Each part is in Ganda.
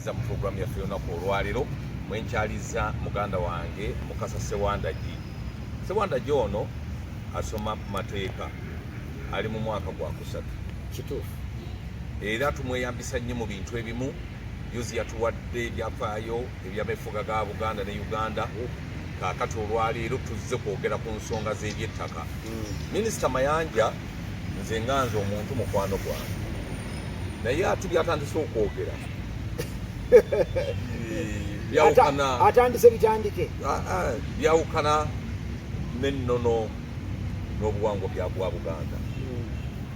nziza mu pulogulaamu yaffe yonaku olwaleero mwenkyaliza muganda wange mukasa sewandagi sewandagi ono asoma mateeka ali mu mwaka gwakusatu kituufu era tumweyambisa nnyo mu bintu ebimu yuzi yatuwadde ebyafaayo ebyamefuga ga buganda ne uganda kakati olwaleero tuzze kwogera ku nsonga z'ebyettaka mm. minisita mayanja nze nga nze omuntu mukwano gwange naye ati byatandise okwogera byawukana atandise bitandike ah, ah, byawukana n'ennono n'obuwangwa byagwa buganda hmm.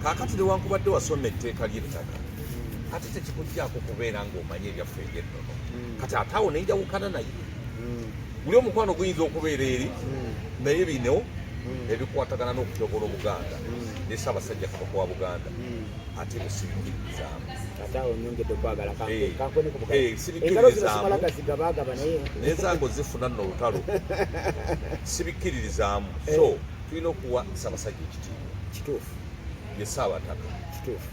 kakati newankubadde wasoma etteeka ly'ettaka hmm. ate tekikujjaako kubeera ng'omanyi ebyaffe eby'ennono hmm. kati ataawo nenjawukana naye guli omukwano guyinza okubeera eri naye bino ebikwatagana n'okutyoboola obuganda ne ssaabasajja kabaka wa buganda ate musibikiririzaamu naye zange ozifuna nno olutalo sibikkiririzaamu so tulina okuwa ssaabasajja ekitiibwa kituufu ye ssaabataka kituufu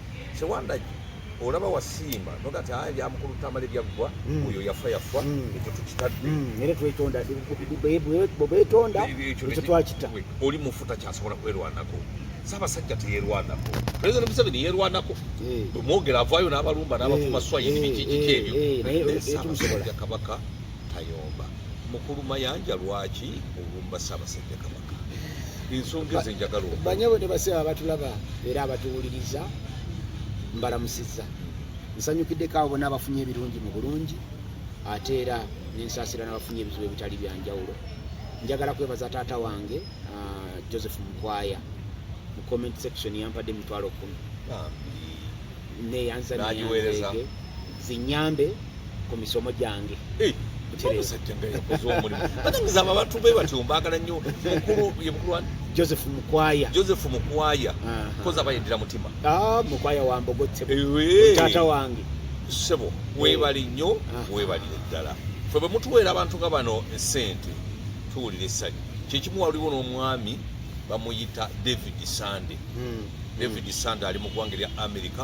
Sewandagi olaba wasiima noga ti aya byamukulu tamale byaggwa mm. oyo yafa yafa mm. ekyo tukitadde mm. era twetonda bwetonda ekyo twakita oli mufu takyasobola kwerwanako sabasajja teyerwanako president museveni yerwanako eh. bwemwogera avaayo n'abalumba n'abavuma eh. swayini eh. bikikiki ebyo sabasajja kabaka tayomba mukulu mayanja lwaki olumba sabasajja kabaka ensonga ezo enjagala banyabo ne baseba abatulaba era abatuwuliriza mbalamusizza nsanyukiddeko abo bona abafunye ebirungi mu bulungi ate era nensaasira n'abafunye ebizibu ebitali byanjawulo njagala kwebaza taata wange ah, joseph mukwaya mu comment section yampadde emitwalo kumi neyanzaniyanzege zinyambe ku misomo gyange eh, zama abantu be batyo mbagala nnyo mukulu ye mukulu wani joseph mukwaya joseph mukwaya koza bayendera mutima ah, mukwaya wambogotse eh, taata wange sebo webali nnyo webalire ddala fe bwe mutuweera abantu nga bano esente tuwulira essanyu kyekimu waliwo n'omwami bamuyita david sande hmm. david sande ali mu ggwanga erya america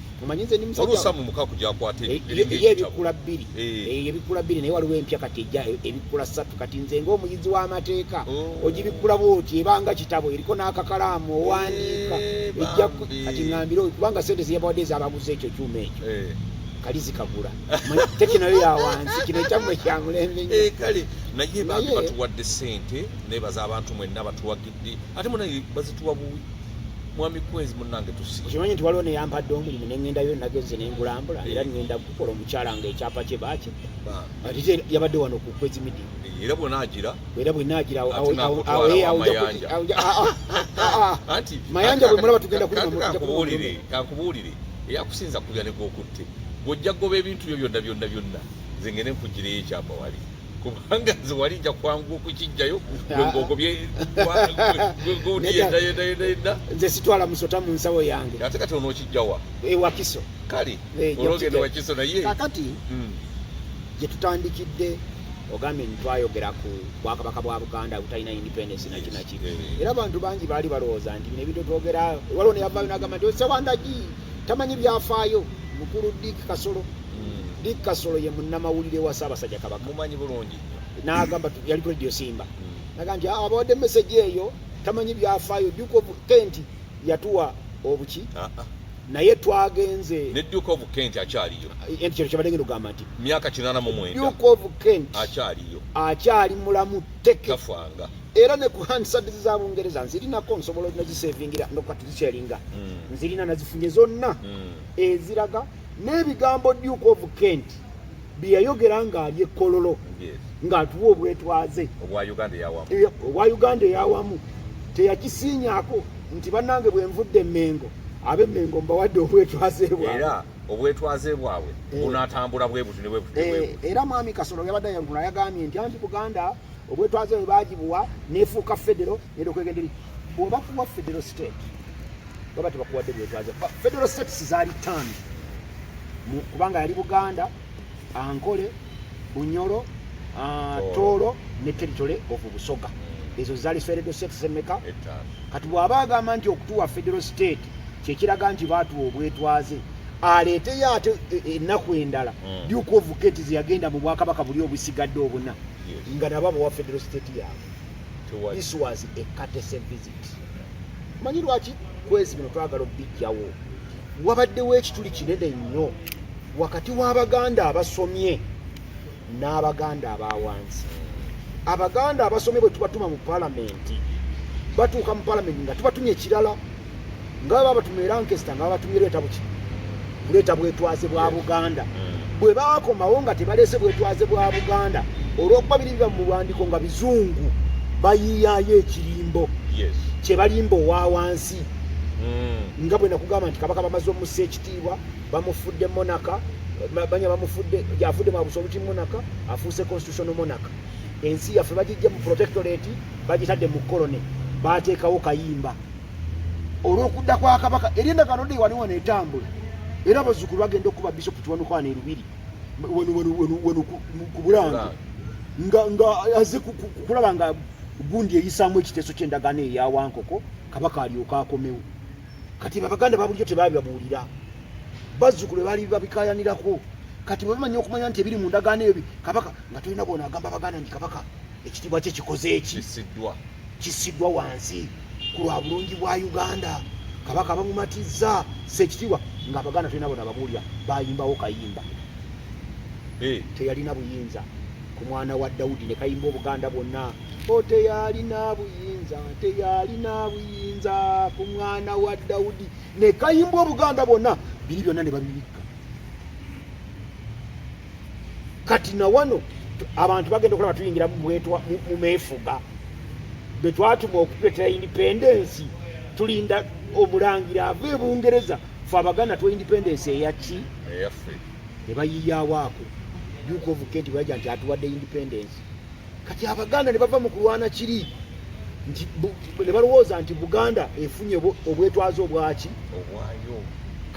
omanyi nze ndi musajja oluusa mu mukaku gyakwata eh, ye ebikula bbiri eh. Eh, ebikula bbiri naye waliwo empya kati ejja ebikula ssatu kati nze ng'omuyizi w'amateeka oh. ogibikkula bwoti ebanga kitabo eriko n'akakalaamu owandiika ejja kati ngambire kubanga sente zeyabawadde ezabaguza ekyo kyuma ekyo kalizi kagula teki nayo yawansi kino ekyamwe kyamulembe kale naye batuwadde sente nebaza abantu mwenna batuwagi nzitwalidde ate munange bazituwa buwi mwami kwezi munange tusi okimanyi nti waliwo neyampadde omulimu nengendayo nageze nengulambula era eh. ngenda kukola omukyala nga ekyapa kye baki ate yabadde wano ku kwezi midi eh, era bwenagira era bwenagira anti mayanja bwemulaba tugenda kulimakubuulire kankubuulire eyakusinza kubya negwokutte gwojja goba ebintu byo byonna byonna byonna nze ngende nkugireyo ekyapa wali kubanga nze wali nja kwangu okukijjayo gweogobyegoyendayendayenda nze sitwala musota mu nsawo yange ate kati ono okijjawa ewakiso kale eh, ologenda wakiso naye kakati hmm. gyetutandikidde ogambye nti twayogera ku bwakabaka bwa buganda butalina independence naki naki eh. era abantu bangi baali balowooza nti bino ebintu twogera waliwo neyavaayo nagamba nti osewandagi tamanyi byafaayo mukulu dik kasolo hmm. dik kasolo ye munnamawulire wa ssaabasajja kabaka mumanyi bulungi n'agamba yali ku radio simba hmm. naga nti ah, abawadde meseji eyo tamanyi byafaayo duke of kent yatuwa obuki ah, ah. naye twagenze ne duke of kent akyaliyo eh, nti kino kyabadde ngenda ogamba nti myaka kinana mu mwenda duke of kent akyaliyo akyali mulamu teke tafanga era ne ku handsards za bungereza nzirinako nsobola nazisevingira nokati zikyalinga mm. nzirina nazifunye zonna mm. eziraga n'ebigambo duke of kent byeyayogera ng'ali ekkololo ng'atuwa obwetwaze obwa uganda eyawamu teyakisiinyako nti bannange bwe nvudde emmengo ab'emmengo mbawadde obwetwaze bwaera obwetwaze bwabwe eh. bunatambula bwebuti nebwebuti eh, era mwami kasolo yabadde yagula yagambye nti anti buganda obwetwaze bwe baagibuwa nefuuka federo neda okwegende bwoba kuwa federo state baba tebakuwadde bwetwaze federo states zaali tano kubanga yali buganda ankole bunyoro ah, tooro ne teritole ovu busoga ezo zaali federo states emeka kati bwaba agamba nti okutuwa federo state kyekiraga nti baatuwa obwetwaze aleeteyo ate e, e, ennaku endala mm. dyuka ovuka eti zeyagenda mu bwakabaka buli obusigadde obuna nga nabo abawa federal state yaabwe this was a courtesy visit manyi lwaki kwezi bino twagala okubijjawo wabaddewo ekituli kinene nnyo wakati w'abaganda abasomye n'abaganda abawansi abaganda abasomye bwe tubatuma mu palamenti batuuka mu palamenti nga tubatumye ekirala nga babatuma era nkesita nga babatumye leeta buki kuleeta bwetwaze bwa buganda mm. bwe bakomawo nga tebaleese bwetwaze bwa buganda olwokuba biri biba mu buwandiiko nga bizungu bayiyayo ekirimbo kyebalimba owa wansi mm. nga bwe nakugamba nti kabaka bamaze omusa ekitiibwa bamufudde monaka banya bamufudde yafudde mwabusobuti monaka afuuse constitutional monaka ensi yaffe bagijja mu protectorate bagitadde mu colony bateekawo kayimba olw'okudda kwa kabaka eri endagaano dde wali wano etambula era abazzukulu bagenda okukuba bisopu kiwanukwana erubiri ku bulange nga aze kulaba nga gundi eyisaamu ekiteeso ky'endagaano eyawankoko kabaka alyoka akomewo kati babaganda babulijo tebabibabuulira bazzukulu bali babikayanirako kati bwebamanya okumanya nti ebiri mu ndagaano ebyo kabaka nga tolina bona agamba baganda nti kabaka ekitiibwa kye kikoze eki kisiddwa kisiddwa wansi ku lwa bulungi bwa uganda kabaka bamumatizza sekitiibwa nga abaganda tulina bona babuulira bayimbawo kayimba eh. teyalina buyinza ku mwana wa dawudi ne kayimba obuganda bwonna o oh, teyalina buyinza teyalina buyinza ku mwana wa dawudi ne kayimba obuganda bwonna biri byonna ne babibikka kati na wano abantu bagenda okulaba tuyingira mu meefuga bwe twatuma okutuletera independence tulinda omulangira ava e bungereza fe abaganda twa independence eyaki ne bayiyawo ako yuka ovuke nti baja nti atuwadde independence kati abaganda ne bava mu kulwana kiri nti ne balowooza nti buganda efunye obwetwaze obwaki obwayo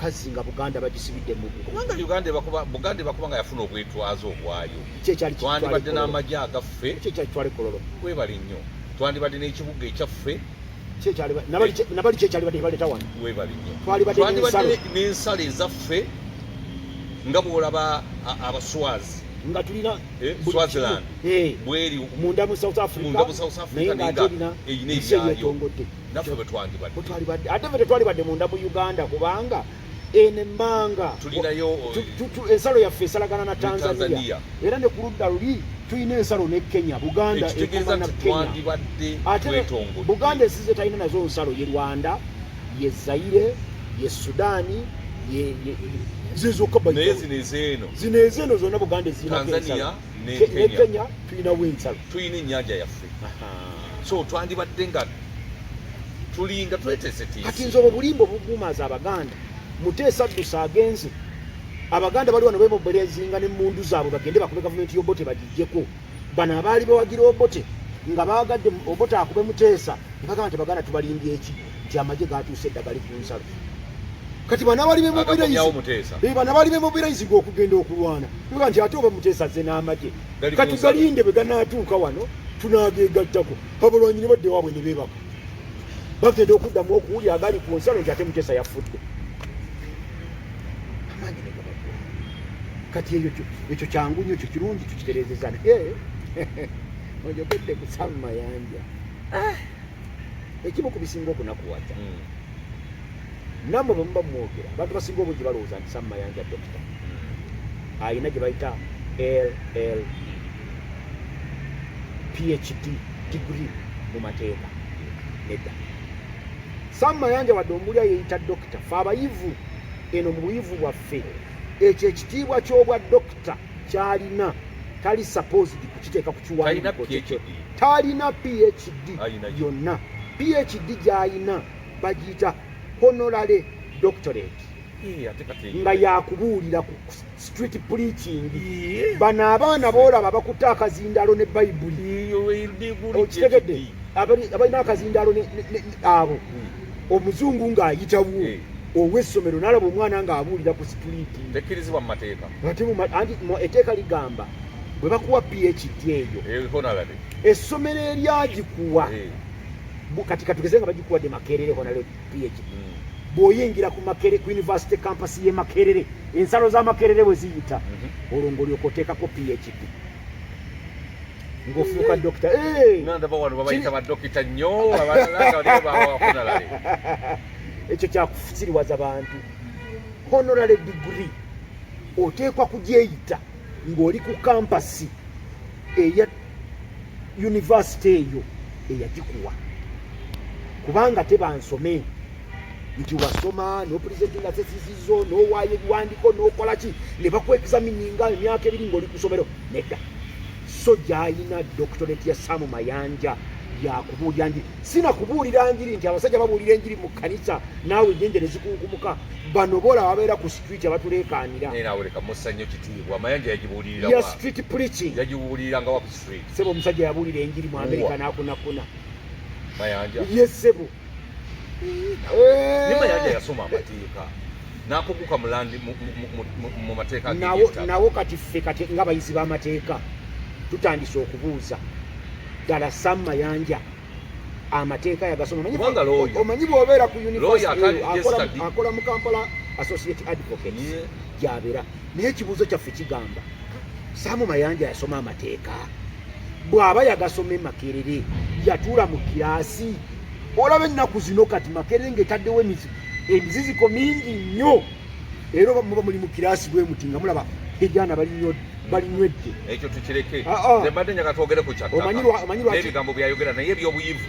kazi nga buganda bagisibidde mu kubanga uganda ebakuba buganda ebakuba nga yafuna obwetwaze obwayo kyekyali twandibadde n'amagye agaffe kyekyali twali kololo webale nnyo twandibadde n'ekibuga ekyaffe nabali kyekyalibadde baleta wano webale nnyo twandibadde n'ensalo ezaffe nga bwolaba abaswazi nga tulina Eh, Swaziland eh, bweri munda mu South Africa munda mu South Africa naye nga alina eyina ebyayo naffe bwe twandibadde ate ffe tetwalibadde munda mu Uganda kubanga eno emmanga tulinayo eh, ensalo yaffe esalagana na Tanzania era ne ku ludda luli tulina ensalo ne Kenya Buganda ekoma na Kenya ate Buganda esize talina nazo nsalo ye Rwanda ye Zaire ye Sudani naye zino ezeeno zino ezeeno zonna buganda ezinatanzania ne kenya tulinawo ensalo tulina ennyanja yaffe so twandibadde nga tulinga tweteeseteese kati nze obwo bulimba obuguumaaza abaganda muteesa ddusa agenze abaganda bali wano bebobelezinga ne mundu zaabwe bagende bakube gavumenti yobote bagijjeko bano abaali bawagira obote nga baagadde obote akube muteesa nkagamba nti baganda tubalimbye eki nti amagye gatuuse edda gali ku nsalo kati banabali bemobileizbanabali bemobileizi gwe okugenda okulwana oga nti ate oba muteesa ze n'amagye kati galinde bwe ganaatuuka wano tunageegattako abalwanyi ne badde waabwe ne beebaka bagenda okuddamu okuwulya agali ku nsalo nti ate muteesa yafudde kati eyo ekyo kyangu nyo ekyo kirungi tukitereezeza naye ojogedde ku sam mayanja ah! ekimu ku bisinga okunakuwaza hmm. namwe bwemuba mumwogera abantu basinga obungi balowooza nti sam mayanja dokita hmm. alina gye bayita ll phd degree mu mateeka nedda sam mayanja wadde omulya yeyita dokita fe abayivu eno mu buyivu bwaffe ffe ekyo ekitiibwa ky'obwa dokita kyalina tali supposed kukiteeka ku kiwandiiko kyekyo talina phd yonna phd gy'alina bagiyita honorary doctorate nga yakubuulira ku street preaching bano abaana boolaba bakutte akazindaalo ne bayibuli okitegedde abalina akazindaalo abo hmm. omuzungu ng'ayitawo ow'essomero n'alaba omwana ng'abuulira ku situliiti tekkirizibwa mu mateeka ate anti etteeka ligamba bwe bakuwa phd eyo essomero eryagikuwa eh. kati katugeze nga bagikuwadde makerere honale phd hmm. bw'oyingira ku makere ku yunivasite kampasi y'e makerere ensalo za makerere bwe ziyita mhm. olwo ng'olyoka oteekako phd ngofuuka dokita eh! ndaba wano babayita badokita nnyo abalalaabawafunalale ekyo kyakufusiriwaza bantu honorary degree oteekwa kugyeyita ng'oli ku kampasi eya yunivasite eyo eyagikuwa kubanga tebansome nti wasoma nopulizentinga sesisizo nowaayo ebiwandiko nokola ki ne bakwexamininga emyaka ebiri ngaoli ku somero nedda so gyalina doctorate ya samu mayanja yakubuulira njiri sinakubuulira njiri nti abasajja babuulira enjiri mu kanisa naawe enyenje nezikunkumuka bano bola babeera ku street abatuleekaanira street preaching sebo omusajja yabuulira enjiri mu amerika nakunakuna yesebo Nima yaja yasoma amateeka nakuguka mulandi mu mateeka nawo kati ffe kati nga bayizi b'amateeka tutandise okubuuza ddala Sam Mayanja amateeka yagasoma omanyi bwobeera ku university akola mu Kampala Associate Advocate gyabeera yeah. naye ekibuuzo kyaffe kigamba saamu mayanja yasoma amateeka bw'aba yagasoma emakerere yatuula mu kiraasi olaba ennaku zino kati makerere ng'etaddewo emiziziko mingi nnyo era oba muba muli mu kiraasi bwe muti nga mulaba ebyana balinywedde ekyo tukireke ah, ah. mbadde njaga twogere ku kyaebigambo byayogera naye ebyobuyivu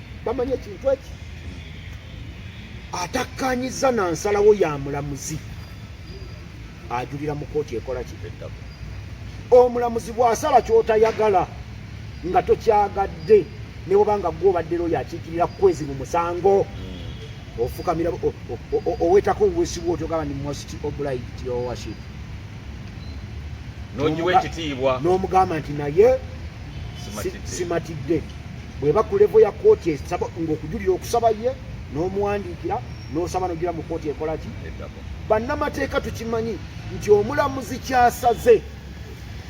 bamanya ekintu eki atakkanyiza na nsalawo ya mulamuzi ajulira mu kooti ekola kibeddamu omulamuzi bw'asala ky'otayagala nga tokyagadde ne bweba nga gwe obadde looyo akiikirira kukwezi mu musango hmm. ofukamira owetako obwesibwa otyo gaba ni most obliged your worship n'ogiwa ekitiibwa n'omugamba nti naye simatidde bweba ku levo ya kooti esaba ngaokujulira okusaba ye n'omuwandiikira n'osaba nogira mu kooti ekola ki bannamateeka tukimanyi nti omulamuzi kyasaze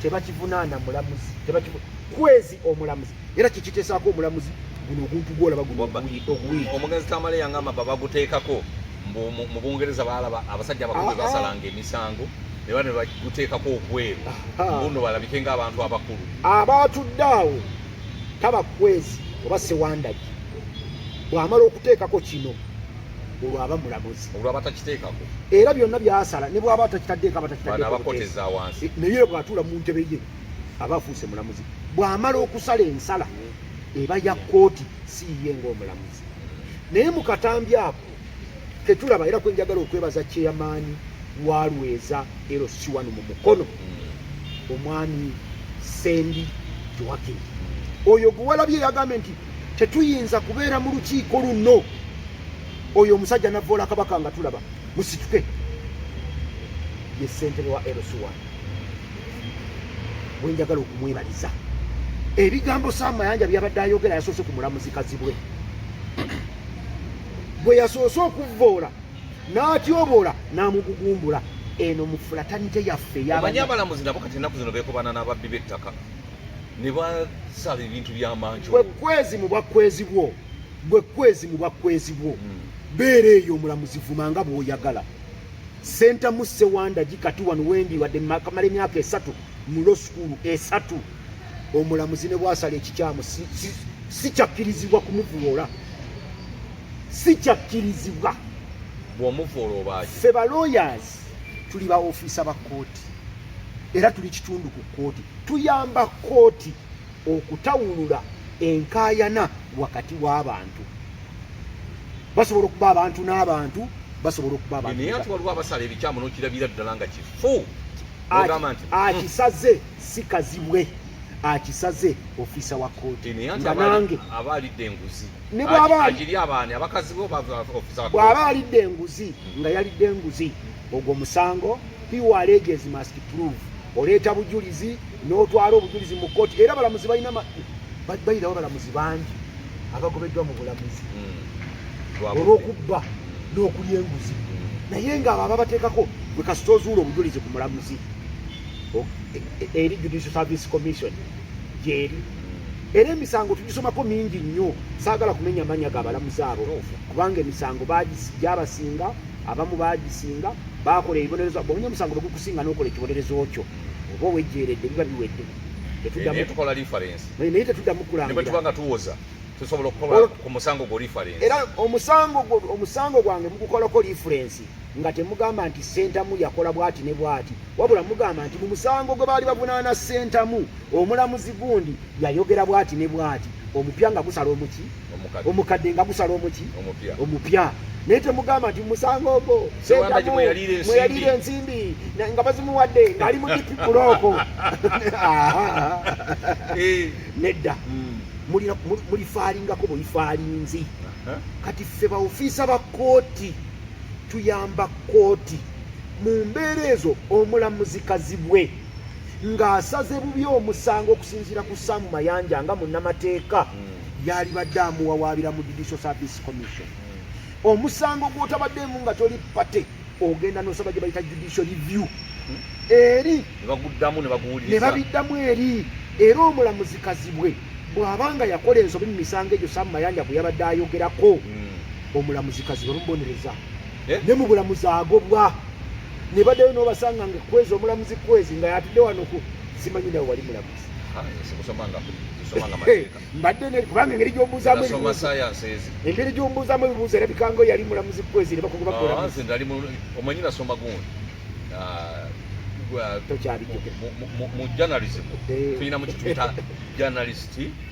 tebakivunaana mulamuzi kwezi omulamuzi era kikitesaako omulamuzi guno oguntu gwolaba guno oguwiiki omugenzi tamale yangamba babaguteekako mu bungereza balaba abasajja abakulu ah, ah. basalanga emisango neba ne baguteekako okweru mbuno balabike nga abantu abakulu abaatudde awo taba kwezi oba sewandagi bwamala okuteekako kino olwo aba mulamuzi olwo abatakiteekako era byonna byasala ne bwaba atakitaddeeko abatakitaddekoakoteza wansi eh, naye bwatuula mu ntebe ye aba afuuse mulamuzi bwamala okusala ensala eba ya kkooti siiye ngaomulamuzi naye mu katambi ako tetulaba era kwenjagala okwebaza kyeyamaanyi walweza lc1 mu mukono mm. omwami sendi joakim mm. oyo gwewalabye yagambye nti tetuyinza kubeera mu lukiiko luno oyo omusajja navoola kabaka nga tulaba musituke ye sentebe wa lc1 wenjagala okumwebaliza ebigambo samayanja byabadde ayogera yasoose ku mulamuzi kazibwe gwe yasoose okuvvoola n'atyoboola n'amugugumbula eno mu fulatanite yaffe yamanyi abalamuzi nabo kati ennaku zino beekobana n'ababbi b'ettaka ne basala ebintu by'amanju gwe kwezi mu bwakwezi bwo gwe kwezi mu bwakwezi bwo hmm. beera eyo omulamuzi vuma nga bw'oyagala senta musse wandagi kati wano wendi wadde makamala emyaka esatu mu lo sukuulu esatu omulamuzi ne bwasala ekikyamu sikyakkirizibwa kumuvuloola sikyakkirizibwa bwomuvoola oba ffe ba lawyers tuli ba ofiisa ba kkooti era tuli kitundu ku kkooti tuyamba kkooti okutawulula enkaayana wakati w'abantu basobola okuba abantu n'abantu basobola okuba abantu naye ati waliwo abasala ebikyamu n'okirabira ddala nga kifu akisaze si kazibwe akisaze ofisa wa kkooti nga nange bw'aba alidde enguzi hmm. nga yalidde enguzi ogwo musango hiwaleges must prove oleeta bujulizi n'otwala obujulizi mu kkooti era balamuzi balina bayirawo balamuzi bangi abagobeddwa mu bulamuzi hmm. olw'okubba n'okulya enguzi hmm. naye ng'abo ababateekako bwe kasita ozuula obujulizi ku mulamuzi eri Judicial Service Commission gyeri era emisango tugisomako mingi nnyo saagala kumenya manya ga balamuzi abo kubanga emisango gyabasinga abamu bagisinga bakola ebibonerezo bwonya omusango begukusinga nokola ekibonerezo kyo oba owejjeeredde biba biwedde naye tetuddamu kulangirabanga tuwoza tusobola okukola ku musango gwo era omusango gwange mugukolako lifurensi nga temugamba nti sentamu yakola bwati ne bwati wabula mugamba nti mu musango gwe baali bavunaana sentamu omulamuzi gundi yayogera bwati ne bwati omupya nga gusala omuki omukadde nga gusala omuki omupya naye temugamba nti musango ogwo sentamu mweyaliira ensimbi nga bazimuwadde ngaali mu dipi bulooko eh. nedda hmm. mulifaalingako bweyifaalinzi kati ffe baofiisa ba kooti tuyamba kkooti mu mbeera ezo omulamuzi kazibwe ng'asaze bubi omusango okusinziira ku saamu mayanja nga munnamateeka hmm. yalibadde amuwawaabira mu judicial service commission hmm. omusango gwotabaddeemu nga toli pate ogenda nosaba gye bayita judicial review hmm. eri ne babiddamu eri era omulamuzi kazibwe bw'aba nga yakola ensobi mu misango egyo saamu mayanja gwe yabadde ayogerako Omulamuzi kazi bamubonereza eh? ne mu bulamuzi agobwa ne baddayo n'obasanga nga kwezi omulamuzi kwezi nga yatudde wano ku simanyi nawe wali mulamuzi ah, eh, mbadde kubanga engeri gyombuuzamu engeri gyombuuzamu ebibuuzo era bikango yali mulamuzi kwezi ne bakugoba mulamuzi mu journalism tulina mu kituyita journalist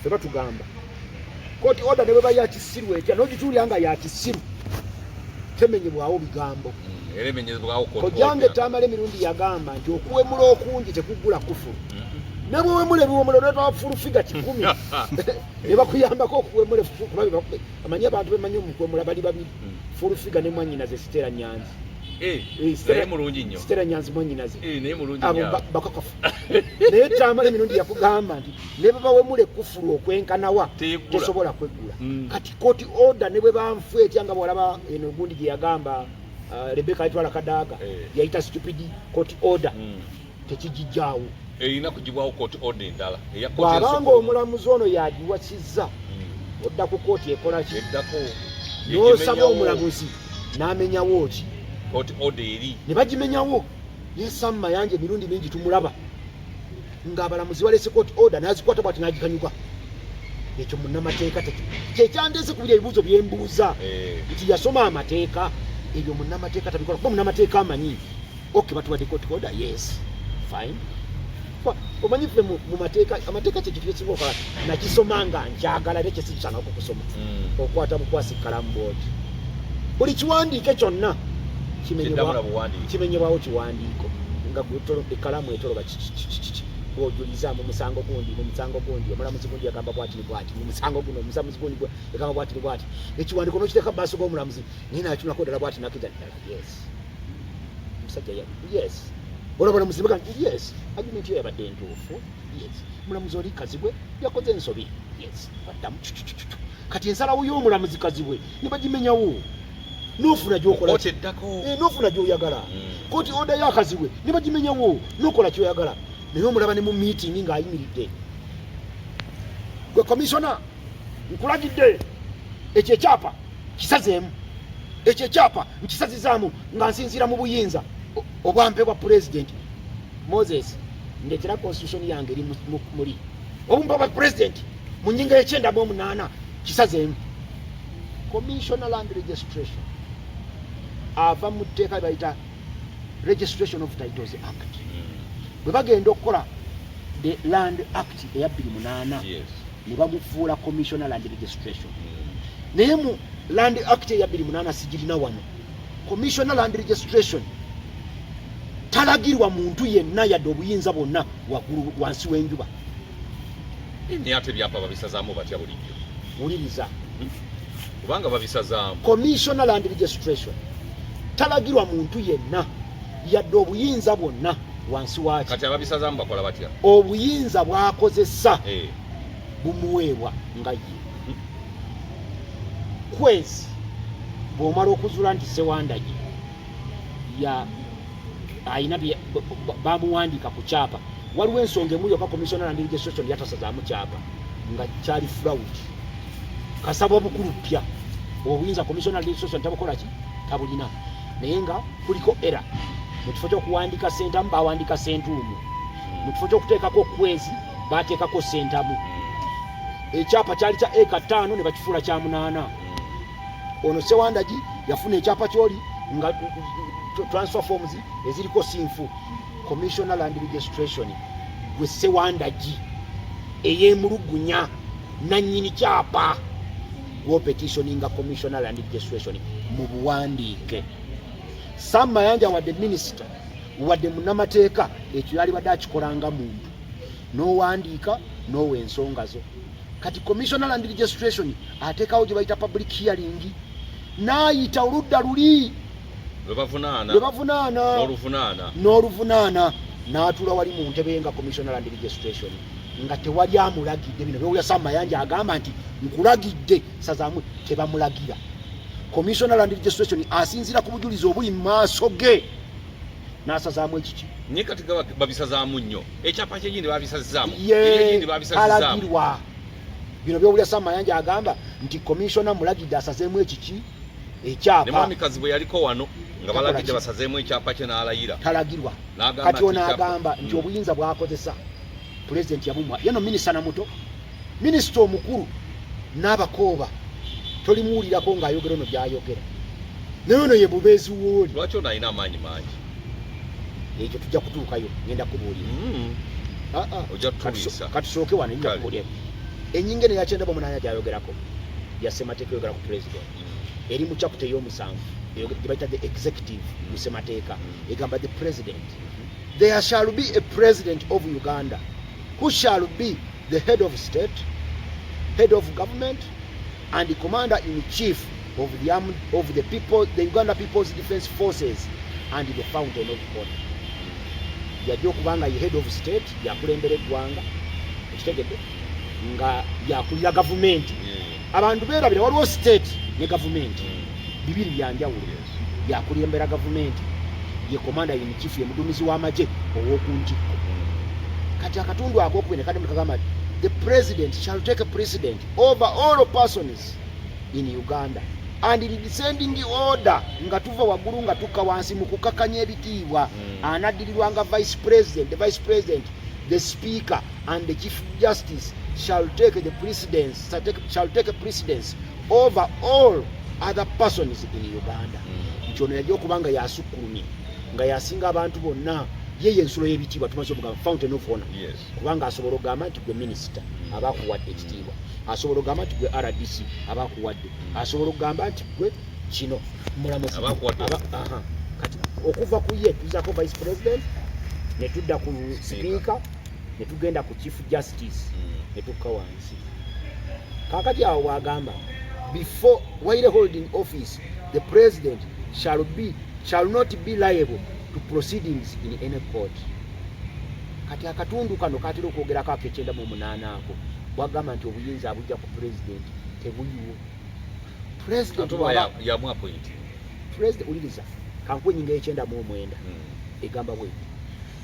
ffe batugamba koti oda ne bwe ba ya kisiru etya n'ogituulira nga ya kisiru temenyebwawo bigambo mm, kojange tamale mirundi yagamba nti okuwemula okungi tekugula kufu mm-hmm. ne bwewemula ebiwemula oletwa fulufiga kikumi ne bakuyambako okuwemula kuba amanyi abantu bemanyi omukwemula bali babiri mm. fulufiga ne mwanyinaze sitera nyanzi eh, eh, sitera nyanzi mwanyinaze eh, abo bakakafu naye tamale mirundi yakugamba nti ne bwe bawemula ekkufulu okwenkanawa tesobola kweggula mm. kati koti oda ne bwe banfu etya nga bwalaba eno gundi gye yagamba uh, rebeka ayitwala kadaaga eh. yayita stupid koti oda mm. tekigijjaawo erina kugibwawo koti oda endala bwabanga omulamuzi ono yagiwasizza mm. odda ku kooti ekola ki n'osaba omulamuzi n'amenyawo ki ne bagimenyawo ne Sam Mayanja emirundi mingi tumulaba ng'abalamuzi baleese court order n'azikwata bwati n'agikanyuka ekyo munnamateeka kyekyandeese kubiri ebibuuzo bye mbuuza eh. nti yasoma amateeka ebyo munnamateeka tabikola kuba munnamateeka amanyi ok batuwadde court order yes fine omanyi ffe mu mateeka amateeka kyekitukisinga okola nakisoma nga njagala era kyesikikyanga okukusoma hmm. okwata bukwasi kalamu bwoti buli kiwandiike kyonna kimenyebwawo kiwandiiko nga ekalamu etoloba kikikikiki bwojuliza mu musango gundi mu musango gundi omulamuzi gundi yagamba bwati ni bwati mu musango guno omusamuzi gundi yagamba bwati ni bwati ekiwandiiko nokiteeka mu maaso g'omulamuzi naye natunako ddala bwati nakija ddala yes musajja ya yes olabona muzibe kati yes argument yo yabadde ntuufu yes mulamuzi oli kazibwe yakoze ensobi yes baddamu kati ensalawo y'omulamuzi kazibwe ne bagimenyawo nofuna gyokolaeddako eh, nofuna gyoyagala hmm. koti oda yakazibwe ne bagimenyawo nokola kyoyagala naye omulaba ne mu meeting ng'ayimiridde gwe komisona nkulagidde ekyo ekyapa kisazeemu ekyo ekyapa nkisazizaamu nga nsinziira mu buyinza obwampe bwa pulezidenti moses ndetera constitution yange eri muli obumpa bwa pulezidenti mu nyinga yekyenda mu omunaana kisazeemu commissioner land registration ava mu tteeka lyebayita registration of titles act hmm. bwe bagenda okukola the land act eya bbiri munaana ne bagufuula commissioner land registration naye mu land act eya bbiri munaana sigirina wano commissioner land registration talagirwa muntu yenna yadde obuyinza bwonna waggulu wansi w'enjuba ate ebyapa babisazaamu batya bulijjo wuliriza kubanga babisazaamu commissioner land registration talagirwa muntu yenna yadde obuyinza bwonna wansi waki kati ababisazamu bakola batya obuyinza bwakozesa hey. Eh. bumuweebwa nga ye kwezi bwomala okuzula nti sewandagi ya ayina bamuwandika ku kyapa waliwo ensonga emu yoka commissioner and registration yatasazamu kyapa nga kyali fraud kasaba obukulu pya obuyinza commissioner and registration tabukolaki tabulina naye nga kuliko era mu kifo ky'okuwandiika sentamu bawandiika sentuumu mu kifo ky'okuteekako okwezi bateekako sentamu ekyapa kyali kya eka ttaano ne bakifuula kya munaana ono sewandagi yafuna ekyapa kyoli nga transfer forms eziriko sinfu commissioner land registration gwe sewandagi eyemulugunya nanyini kyapa gwopetitioninga commissioner land registration mu buwandiike sam mayanja wadde minisita wadde munamateeka ekyo yalibadde akikolanga muntu n'owandiika n'owa ensonga zo kati commissioner land registration ateekawo gye bayita public hearing n'ayita oludda luli lwebavunaana n'oluvunaana n'atula wali mu ntebe nga commissioner land registration nga tewali amulagidde bino byowulira sam mayanja agamba nti nkulagidde sazamwe tebamulagira commissioner land registration asinzira ku bujulizi obuli mu maaso ge nasazaamu ekiki naye kati babisazaamu nnyo ekyapa kyegindi babisazaamu yegindi babisazaamualagirwa bino byowulira sam mayanja agamba nti commissioner mulagidde asazeemu ekiki ekyapa ne mwami kazibu yaliko wano nga balaga kye basazeemu ekyapa kye n'alayira talagirwa kati ono agamba nti mm. obuyinza bwakozesa pulezidenti yabumwa yeno minisita na muto minisita omukulu n'abakooba tolimuwulirako ng'ayogera ono gy'ayogera naye ono ye bubeezi wooli lwaki ono alina amaanyi mangi ekyo tujja kutuukayo ngenda kubuulira mm. ah, ah. ojja tutuliisa katusooke wano nja kubuulira enyinga eno yakyenda bamunanya gyayogerako yasemateeka yogera ku pulezidenti eri mu chapter ey'omusanvu eyo gye bayita the executive mu ssemateeka egamba the president there shall be a president of uganda who shall be the head of state head of government and the commander in chief of the, armed, of the people the uganda people's defense forces and the fountain of god yajja okuba nga ye head of state yakulembera eggwanga ekitegedde nga yakulira gavumenti yeah. abantu beerabira waliwo state ne gavumenti hmm. bibiri byanjawulo yakulembera gavumenti ye komanda in chief ye mudumizi w'amagye ow'oku ntikko hmm. kati akatundu akokubiri ne kadamu kagamba ti the president shall take a precedent over all persons in uganda and in descending order nga tuva waggulu nga tukka wansi mu kukakanya ebitiibwa hmm. anaddirirwa nga vice president the vice president the speaker and the chief justice shall take the precedence shall take a precedence over all other persons in uganda hmm. nti ono yajja okuba nga yasukkulumye nga yasinga abantu bonna ye yensulo y'ebitiibwa tumaze okugamba fountain of honor kubanga asobola okugamba nti gwe minisita hmm. aba akuwadde ekitiibwa asobola okugamba nti gwe rdc aba akuwadde hmm. asobola okugamba nti gwe kino mulamuzi kati okuva ku ye tuzako vice president ne tudda ku sipiika ne tugenda ku chief justice ne tukka wange kakati awo bwagamba before while holding office the president shall be shall not be liable to proceedings in any court kati akatundu kano katera okwogerako akekyenda mu munaana ako bwagamba nti obuyinza abujja ku president tebuyiwo president uliriza kankuwa enyinga yekyenda mu omwenda hmm. egamba bwe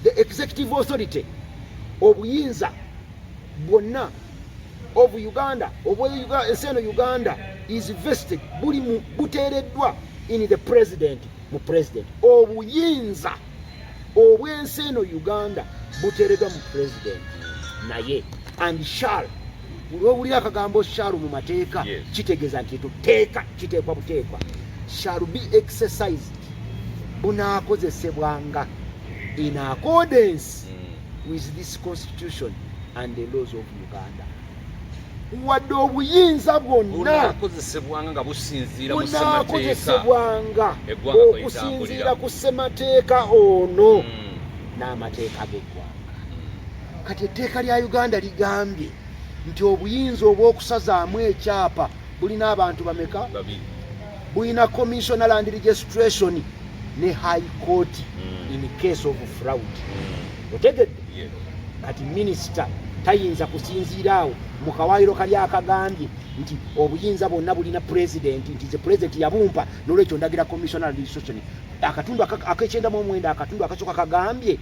the executive authority obuyinza bwonna of uganda ensi eno uganda is vested buli buteereddwa in the president mu president obuyinza obwensi eno uganda buteereddwa mu president naye and shall olwobulira akagambo shall mu mateeka kitegeeza nti eto teeka kiteekwa buteekwa shall be exercised bunaakozesebwanga in accordance mm. with this constitution and the laws of uganda wadde obuyinza bwonna bunakozesebwanga nga businziira ku ssemateeka ono hmm. n'amateeka g'eggwanga hmm. kati etteeka lya uganda ligambye nti obuyinza obw'okusazaamu ekyapa bulina abantu bameka bulina commissioner land registration ne high court mm. in case of fraud mm. otegedde yes. kati minister tayinza kusinziira awo mu kawaayiro kali akagambye nti obuyinza bwonna bulina pulezidenti nti ze pulezidenti yabumpa nolwekyo ndagira commissioner registration akatundu akekyenda mu omwenda akatundu akasooka kagambye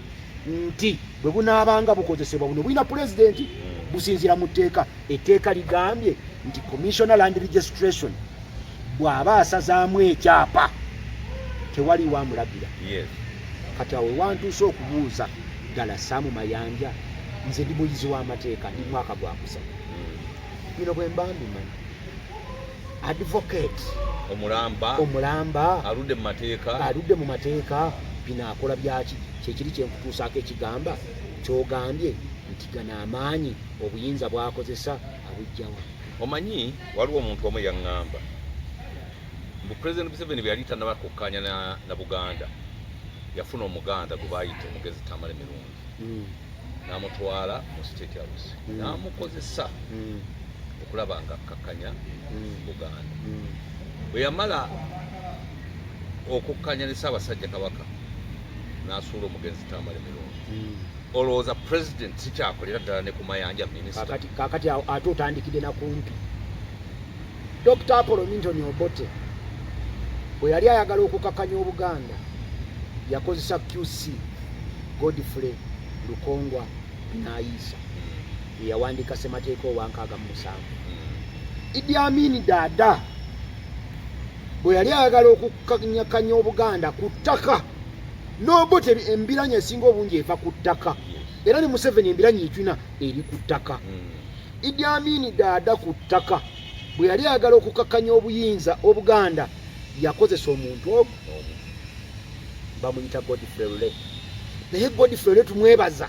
nti bwe bunaabanga bukozesebwa buno bulina pulezidenti mm. businziira mu tteeka Etteeka ligambye nti Commissioner Land Registration bw'aba asazaamu ekyapa tewali wamulagira kati awo wantuuse okubuuza ddala saamu mayanja nze ndi muyizi w'amateeka ndi mwaka gwakusa hmm. bino bwe mba mbimanyi advocate omulamba omulamba aludde mu mateeka aludde mu mateeka bino akola byaki kyekiri kyenkutuusaako ekigamba kyogambye nti gano amaanyi obuyinza bwakozesa abujjawa omanyi waliwo omuntu omu yaŋŋamba mbu president museveni bwe yali tanaba kukkaanya na, na buganda yafuna omuganda gwe baayita omugezi tamale mirungi mm. n'amutwala mu state house mm. n'amukozesa mm. okulaba nga akkakkanya mm. buganda mm. bwe yamala okukkanya ne ssaabasajja kabaka n'asuula omugenzi tamale mirungi mm. olowooza president sikyakolera ddala ne ku mayanja minisita kakati kakati awo ate otandikidde na kumpi dr apollo minton obote bwe yali ayagala okukakanya obuganda yakozesa qc godfrey lukongwa nayiisa hmm. eyawandiika semateeka owankaaga mu musanvu hmm. idi amini daada bwe yali ayagala okukanyakanya obuganda ku ttaka n'obote embiranye esinga obungi eva ku ttaka era ne museveni embiranye ekyina eri ku ttaka hmm. idi amini daada ku ttaka bwe yali ayagala okukakkanya obuyinza obuganda yakozesa omuntu omu bamuyita godfrey lule naye godfrey lule tumwebaza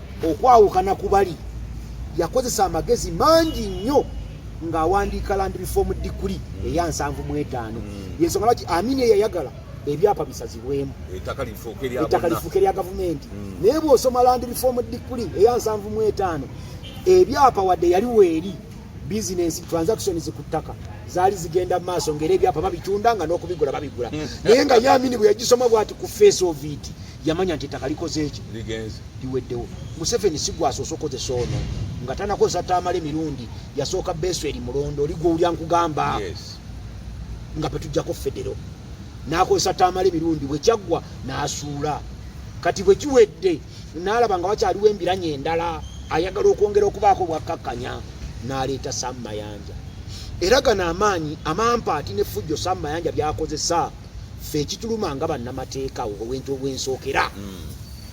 okwawukana ku bali yakozesa amagezi mangi nnyo ng'awandiika landi bifoomu diguli mm. eya nsanvu mu etaano mm. yensonga lwaki amini eyayagala ebyapa bisazibwemu ettaka lifuuka erya gavumenti mm. naye bw'osoma landi bifoomu diguli eya nsanvu mu etaano ebyapa wadde yali weeri bizinensi transactions ku ttaka zaali zigenda mu maaso ngaera ebyapa babitunda nga n'okubigula babigula naye nga yamini bwe yagisoma bwati ku face of it yamanya nti ettaka likoze eki liweddewo museveni si gwasoose okozesa ono nga tanakozesa tamale mirundi yasooka beeso eri mulondo oli gwowulya nkugamba nga petujjako federo nakozesa tamale mirundi bwekyaggwa nasuula kati bwekiwedde nalaba nga wakyaliwo embiranye endala ayagala okwongera okubaako bwakkakkanya naleeta sam mayanja era gano amaanyi amampaati ne fujjo sam mayanja byakozesa fe ekituluma nga bannamateeka obwentu obwensookera mm.